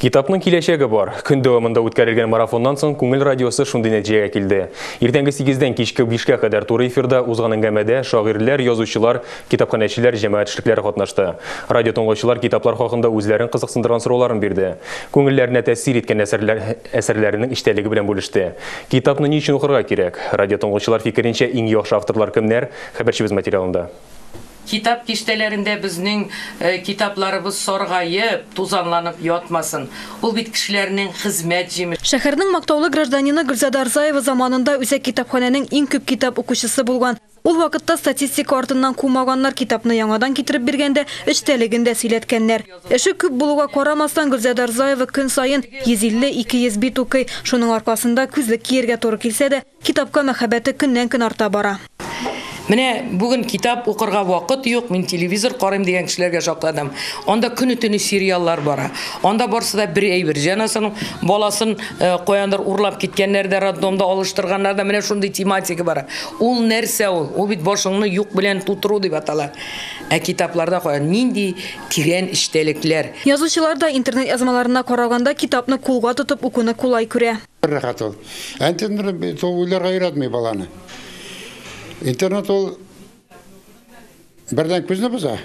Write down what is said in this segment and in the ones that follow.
Китапның киләчәге бар. Көн дәвамында үткәрелгән марафоннан соң Күңел радиосы шундый нәтиҗәгә килде. Иртәнге сигездән кичке бишкә кадәр туры эфирда узган әңгәмәдә шагыйрьләр, язучылар, китапханәчеләр, җәмәгать эшлекләре катнашты. Радиотыңлаучылар китаплар хакында үзләрен кызыксындырган сорауларын бирде. Күңелләренә тәэсир иткән әсәрләр әсәрләренең эчтәлеге белән бүлеште. Китапны ни өчен укырга кирәк? Радиотыңлаучылар фикеренчә иң яхшы авторлар кемнәр? Хәбәрчебез материалында. Китап киштәләрендә безнең китапларыбыз саргаеп, тузанланып ятмасын. Ул бит кешеләрнең хезмәт җимеше. Шәһәрнең мактаулы гражданины Гөлзада Рзаева заманында үзәк китапханәнең иң күп китап укучысы булган. Ул вакытта статистика артыннан кумаганнар, китапны яңадан китереп биргәндә, эчтәлеген дә сөйләткәннәр. Эше күп булуга карамастан, Гөлзада Рзаева көн саен 150-200 бит укый. Шуның аркасында, күзлек кияргә туры килсә дә, Китапка мәхәббәте көннән-көн арта бара. Менә бүген китап укырга вакыт юк, мин телевизор карыйм дигән кешеләргә шакладым. Анда көне-төне сериаллар бара. Анда барсы да бер әйбер. Җанасының баласын э, каяндыр урлап киткәннәр дә, роддомда алыштырганнар да, менә шундый тематика бара. Ул нәрсә ул? Ул бит башыңны юк белән тутыру дип атала. Ә китапларда каян нинди тирән эчтәлекләр? Язучылар да интернет язмаларына караганда китапны кулга тотып укуны кулай күрә. Бер рәхәт ул. Ә интернет бит ул уйларга өйрәтми баланы. Интернет ул бердән күзне боза,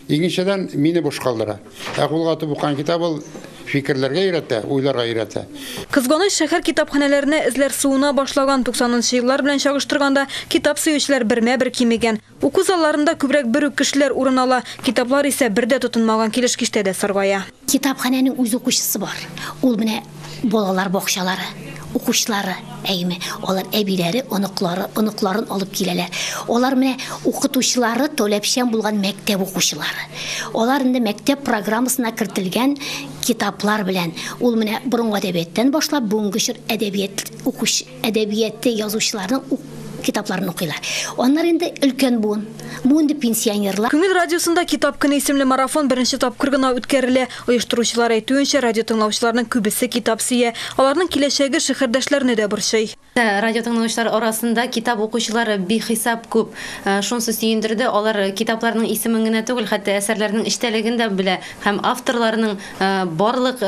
икенчедән мине буш калдыра. Ә кулга атып укыган китап ул фикерләргә өйрәтә, уйларга өйрәтә. Кызганыч, шәһәр китапханәләренә эзләр суына башлаган. 90 нчы еллар белән чагыштырганда, китап сөючеләр бермә-бер кимегән. Уку залларында күбрәк бер үк кешеләр урын ала, китаплар исә бер дә тотынмаган килеш киштәдә саргая. Китапханәнең үз укучысы бар, ул менә балалар бакчалары укучылары, әйеме, алар әбиләре, оныклары, оныкларын алып киләләр. Алар менә укытучылары таләпчән булган мәктәп укучылары. Алар инде мәктәп программасына кертелгән китаплар белән, ул менә борынгы әдәбияттан башлап бүгенге чор әдәбият укучы әдәбияты язучыларның ук китапларын укыйлар. Аннары инде өлкән буын, бу инде пенсионерлар. Күңел радиосында Китап көне исемле марафон беренче тапкыр гына үткәрелә. Оештыручылар әйтүенчә, радиотыңлаучыларның күбесе китап сөя. Аларның киләчәге шәһәрдәшләрне дә борчый. Радиотыңлаучылар арасында китап укучылар бихисап күп. Шунысы сөендерде, алар китапларның исемен генә түгел, хәтта әсәрләрнең эчтәлеген дә белә һәм авторларның барлык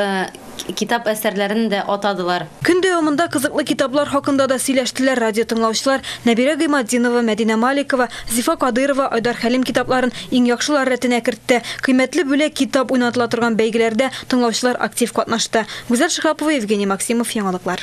китап әсәрләрен дә атадылар. Көн дәвамында кызыклы китаплар хакында да сөйләштеләр радиотыңлаучылар. Нәбирә Гыйматдинова, Мәдинә Маликова, Зифа Кадыйрова Айдар Хәлим китапларын иң яхшылар рәтенә кертте. Кыйммәтле бүләк китап уйнатыла торган бәйгеләрдә тыңлаучылар актив катнашты. Гүзәл Шиһапова, Евгений Максимов, Яңалыклар.